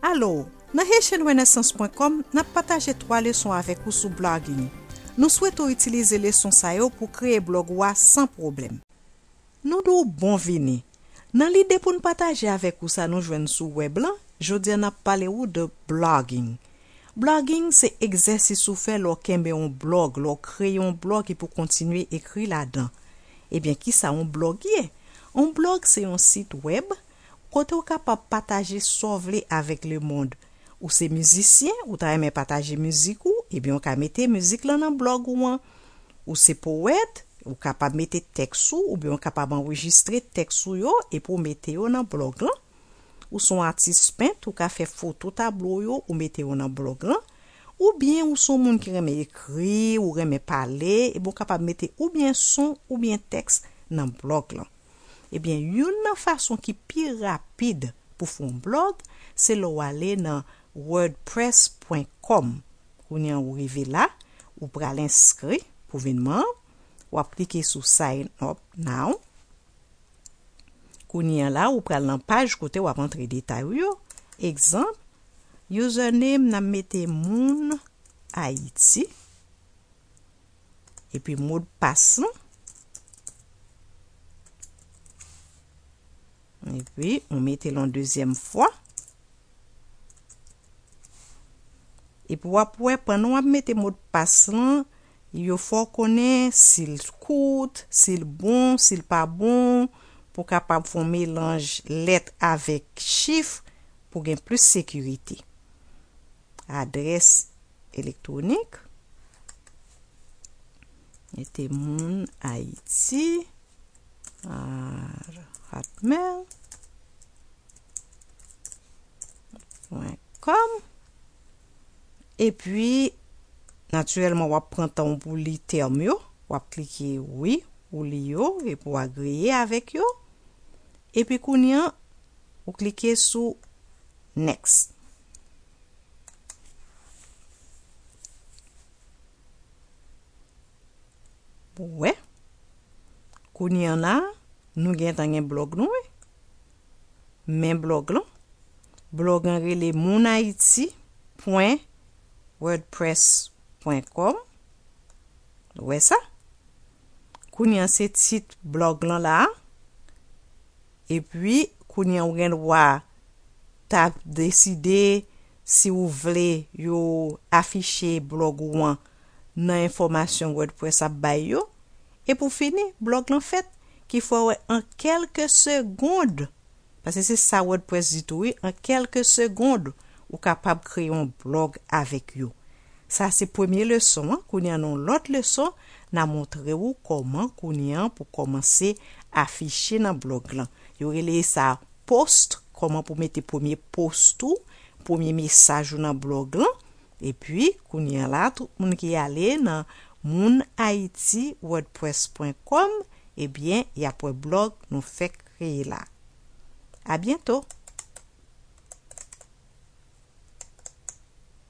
Alo! Nan haitianrenaissance.com, n ap pataje 3 leson avèk ou sou blogging. Nou swete w itilize leson sa yo pou w kreye blog ou a san pwoblèm. Nou di w bon vini! Nan lide pou n pataje avèk ou sa nou jwenn sou wèb lan, jodi a n ap pale ou de blogging. Blogging se egzèsis ou fè lè w kenbe yon blog, lè w kreye yon blog epi w kontinye ekri ladan. Ebyen kisa yon blog ye? Yon blog se yon sit wèb kote w kapab pataje sa w vle avèk lemond. Ou se mizisyen, ou ta renmen pataje mizik ou, ebyen ou ka mete mizik lan nan blòg ou an. Ou se powèt, ou kapab mete tèks ou oubyen ou kapab anrejistre tèks ou yo epi w mete yo nan blòg lan. Ou son atis pent, ou ka fè foto tablo w yo ou mete yo nan blòg lan. Oubyen ou son moun ki renmen ekri, ou renmen pale, ebyen ou kapab mete oubyen son oubyen tèks nan blòg lan. Ebyen youn nan fason ki pi rapid pou fè yon blog se lè w ale nan wordpress pwen kòm kounye an ou rive la ou pral enskri pou vin manb w ap klike sou sign up now kounye an la ou pral nan paj kote w ap antre detay ou yo egzanp username nan mete moun ayiti. epi mo de pas nou epi ou mete l'on dezyèm fwa epi wap wè pandan wap mete mo de pas lan yo fò konnen sil kout, sil bon, sil pa bon pou kapab fon melanj lèt avèk chif pou gen plis sekirite. adrès elektwonik, mete moun Ayiti ar hotmail pwen kòm epi natirèlman wap pran tan w pou li tèm yo, wap klike wi ou li yo epi w agreye avèk yo epi kounye an ou klike sou Next. Wè. Kounye an la, nou gentan gen blog nou wi. Men blog lan. Blog an rele mounayiti pwen wordpress pwen kòm. Wè sa. Kounye an se tit blog lan la a. Epi, kounye a ou gen dwa ta deside si ou vle yo afiche blog ou an nan enfòmasyon WordPress ap bay yo. E pou fini, blog lan fèt, ki fè w wè an kèlke segond, paske se sa WordPress di tou wi, an kèlke segond ou kapab kreye yon blog avèk yo. Sa se premye leson an kounya nan yon lòt leson na montre ou kòman kounya an pou kòmanse afiche nan blòg lan yo releye sa post kòman pou mete premye post ou premye mesaj ou nan blòg lan epi kounya la tout moun ki ale nan moun ayiti wordpress pwen kòm ebyen yap wè blòg nou fèk kreye la abyento.